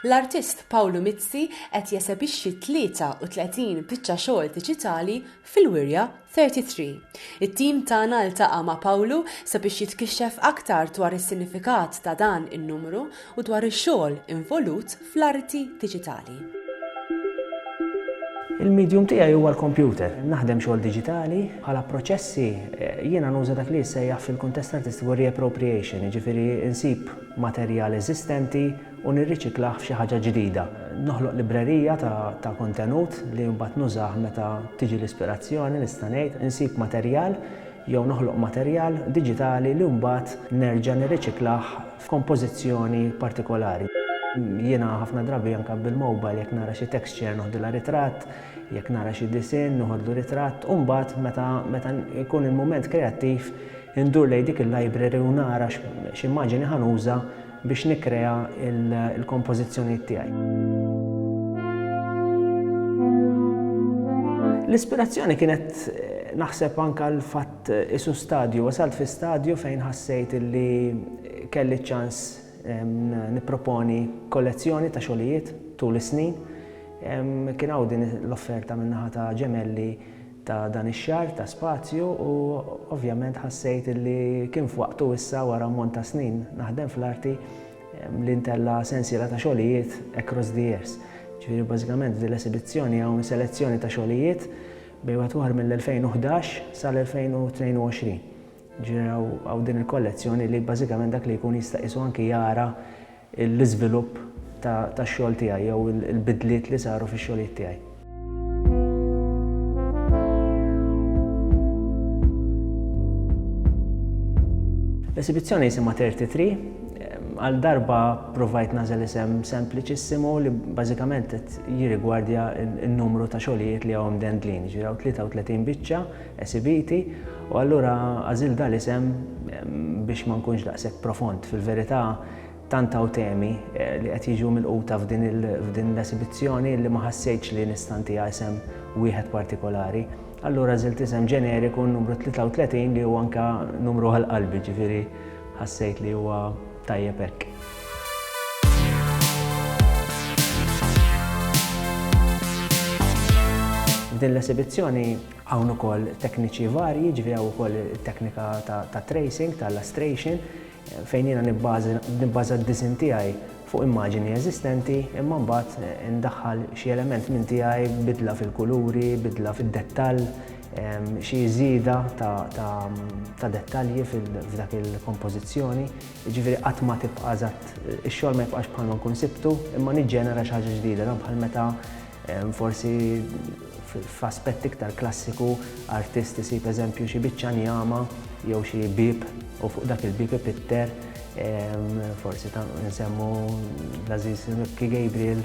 L-artist Pawlu Mizzi qed jesebixxi 33 biċċa xogħol diġitali fil-Wirja 33. It-tim tagħna ltaqa' ma' Pawlu sabiex jitkixxef aktar dwar is-sinifikat ta' dan in-numru u dwar ix-xogħol involut fl-arti diġitali. Il-medium tiegħi huwa l-kompjuter. Naħdem xogħol diġitali, bħala proċessi jiena nuża dak li jissejjaħ fil-kuntest artistiku reappropriation, jiġifieri nsib materjal eżistenti u nirriċiklah f'xi ħaġa ġdida. Noħloq librerija ta' kontenut li mbagħad nużah meta tiġi l-ispirazzjoni nista' ngħid, insib materjal jew noħloq materjal diġitali li mbagħad nerġa' nirriċiklah f'kompożizzjoni partikolari. Jiena ħafna drabi anke bil-mobile jekk nara xi texture noħdilha ritratt, jekk nara xi disinn noħodlu ritratt u mbagħad meta meta jkun il-mument kreattiv indur lejn dik il-library u nara x'immaġini ħa nuża biex nikkrea l-kompożizzjonijiet tiegħi. L-ispirazzjoni kienet naħseb anke l-fatt Tqisu stadju, wasalt fi stadju fejn ħassejt illi kelli ċ-ċans nipproponi kollezzjoni ta' xogħlijiet tul is-snin. Kien hawn din l-offerta min-naħa ta' Gemelli ta' dan ix-xahar ta' spazju u ovvjament ħassejt illi kien f'waqtu issa wara ammont ta' snin naħdem fl-arti li ntella' sensiela ta' xogħlijiet across the years. Ġifieri bażikament f'din l-esibizzjoni hawn selezzjoni ta' xogħlijiet Bejn madwar mill-2011 sal-2022 ġieli hawn din il-kollezzjoni li bażikament dak li jkun jista' qisu anki jara l-iżvilupp tax-xogħol tiegħi jew il-bidliet li saru fix-xogħlijiet tiegħi. L-esibizzjoni jisimha 33, Għal darba provajt nażel isem sempliċissimu li bażikament qed jirigwardja n-numru ta' xogħlijiet li hawn mdendlin, jiġifieri hawn 33 biċċa esibiti u allura għażilt dan l-isem biex ma nkunx daqshekk profond. Fil-verità tant hawn temi li qed jiġu milquta f'din l-esibizzjoni li ma ħassejtx li nista' ntiha isem wieħed partikolari. Allura għażilt isem ġeneriku n-numru 33 li hu anke numru għal qalbi, jiġifieri Ħassejt li huwa tajjeb hekk. F'din l-esibizzjoni hawn ukoll tekniċi varji, ġifieri hawn ukoll it-teknika ta' tracing, ta' lustration, fejn jiena nibbaża d-disinn tiegħi fuq immaġini eżistenti imma mbagħad indaħħal xi element minn tiegħi bidla fil-kuluri, bidla fid-dettall, Xi żieda ta' dettalji f'dak il-kompożizzjoni, jiġifieri qatt ma tibqa' eżatt, ix-xogħol ma jibqax bħalma nkun sibtu, imma niġġenera xi ħaġa ġdida, dan bħal meta forsi f'aspett iktar klassiku artist isib eżempju xi biċċa njama jew xi bieb u fuq dak il-bieb ipitter, forsi nsemmu l-għażiż Ripke Gabriel,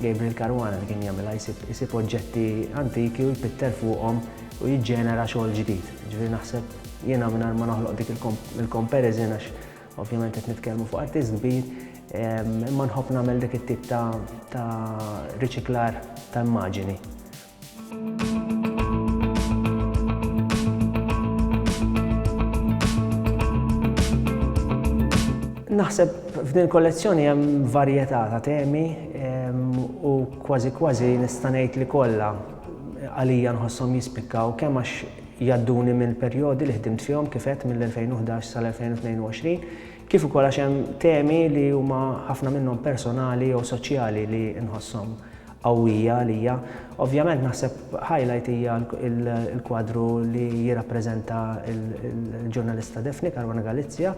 Gabriel Caruana li kien jagħmilha jsib isib oġġetti antiki u jpitter fuqhom u jiġġenera xogħol ġdid. Ġifieri naħseb jiena mingħajr ma noħloq dik il-comparison għax ovvjament qed nitkellmu fuq artist kbir, ehm, imma nħobb nagħmel dik it-tip ta' riċiklar ta' immaġini. Naħseb f'din kollezzjoni hemm varjetà ta' temi u kważi kważi nista' ngħid li kollha għalija nħossom jispikkaw kemm għax jadduni minn perjodi li ħdimt fihom kif qed mill-2011 sal-2022 kif ukoll għax hemm temi li huma ħafna minnhom personali jew soċjali li nħossom qawwija għalija. Ovvjament naħseb highlight hija l-kwadru li jirrappreżenta l-ġurnalista Daphne Caruana Galizia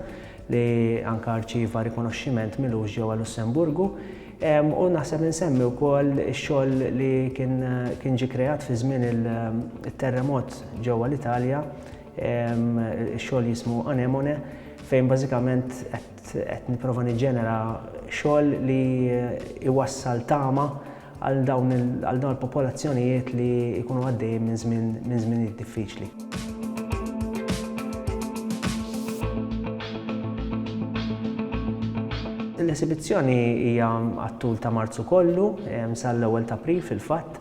li anke arċieva rikonoxximent milux ġewwa Lussemburgu. U naħseb insemmi wkoll ix-xogħol li kien ġie kreat fi żmien it-terremot ġewwa l-Italja, ix-xogħol jismu Anemone, fejn bażikament qed Qed nipprova niġġenera xogħol li jwassal tama għal dawn il-popolazzjonijiet li jkunu għaddejjin minn żmien minn żminijiet diffiċli. L-esibizzjoni hija għat-tul ta' Marzu kollu, sal-ewwel ta' April fil-fatt.